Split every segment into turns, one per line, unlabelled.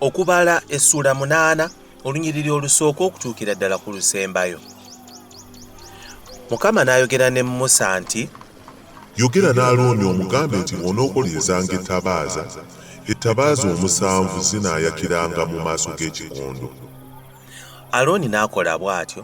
okubala essuula munaana olunyiriri olusooka okutuukira ddala ku lusembayo mukama n'ayogera ne musa nti yogera
n'alooni omugambe nti bw'onookoleezanga ettabaaza ettabaaza omusanvu zinaayakiranga mu maaso g'ekikondo
alooni n'akola bw'atyo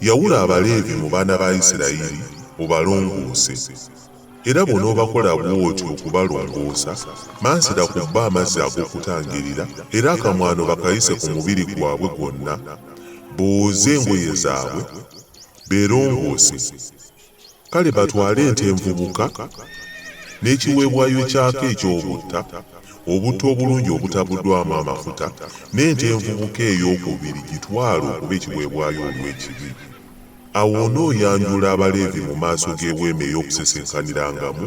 Yawula
Abaleevi mu baana ba Isirayiri obalongoose, era bw'onoobakola bw'otyo okubalongoosa, mansira ku bo amazzi ag'okutangirira, era akamwano bakayise ku mubiri gwabwe gwonna, booze engoye zaabwe, beerongoose. Kale batwale ente envubuka n'ekiweebwayo kyako eky'obutta, obutta obulungi obutabuddwamu amafuta, n'ente envubuka eyookubiri gitwale okuba ekiweebwayo olw'ekibi. Awo onooyanjula Abaleevi mu maaso g'Eweema ey'Okusisinkanirangamu.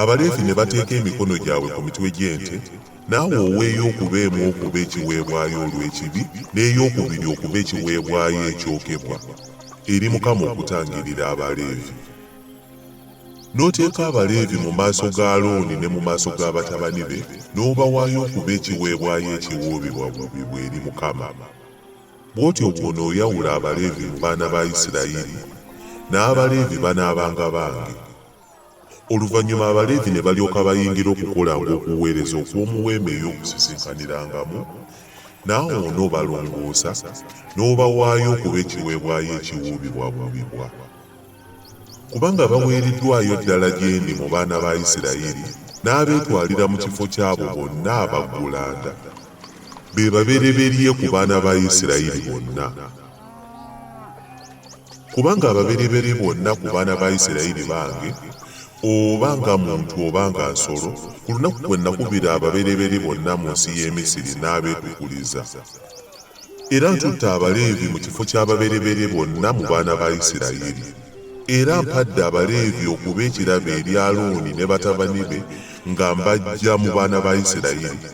Abaleevi
ne bateeka emikono gyabwe ku mitwe gy'ente, naawe oweeyo okuba emu okuba ekiweebwayo olw'ekibi, n'eyokubiri okuba ekiweebwayo ekyokebwa eri Mukama okutangirira Abaleevi. N'oteeka Abaleevi mu maaso ga Alooni ne mu maaso ga batabani be, n'obawaayo okuba ekiweebwayo ekiwuubibwawuubibwa eri Mukama. Bw'otyo bw'onooyawula Abaleevi mu baana ba Isirayiri, n'Abaleevi banaabanga bange. Oluvannyuma Abaleevi ne balyoka bayingira okukolanga okuweereza okw'omuweema ey'okusisinkanirangamu, naawe onoobalongoosa n'obawaayo okuba ekiweebwayo ekiwuubibwabuubibwa. Kubanga baweereddwayo ddala gye ndi mu baana ba Isirayiri n'abeetwalira mu kifo ky'abo bonna abaggulanda, be babereberye ku baana ba Isirayiri bonna. Kubanga ababereberye bonna ku baana ba Isirayiri bange, oba nga muntu oba nga nsolo, ku lunaku kwe nakubira ababereberye bonna mu nsi y'e Misiri n'abeekukuliza. Era ntutte Abaleevi mu kifo ky'ababereberye bonna mu baana ba Isirayiri. Era mpadde Abaleevi okuba ekirabo eri Alooni ne batabani be nga mbaggya mu baana ba Isirayiri.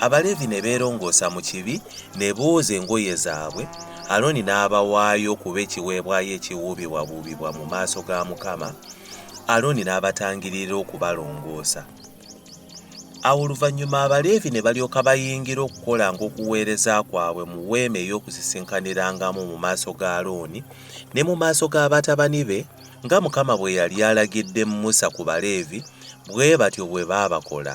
abaleevi ne beerongoosa mu kibi ne booza engoye zaabwe alooni n'abawaayo okuba ekiweebwayo ekiwuubibwabuubibwa mu maaso ga mukama alooni n'abatangirira okubalongoosa awo oluvannyuma abaleevi ne balyoka bayingira okukola ng'okuweereza kwabwe mu weema ey'okusisinkanirangamu mu maaso ga alooni ne mu maaso g'abatabani be nga mukama bwe yali alagidde musa ku baleevi bwe batyo bwe baabakola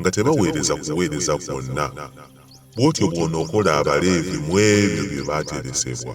nga tebaweereza kuweereza kwonna, bw'otyo bw'onookola Abaleevi mu ebyo bye baateresebwa.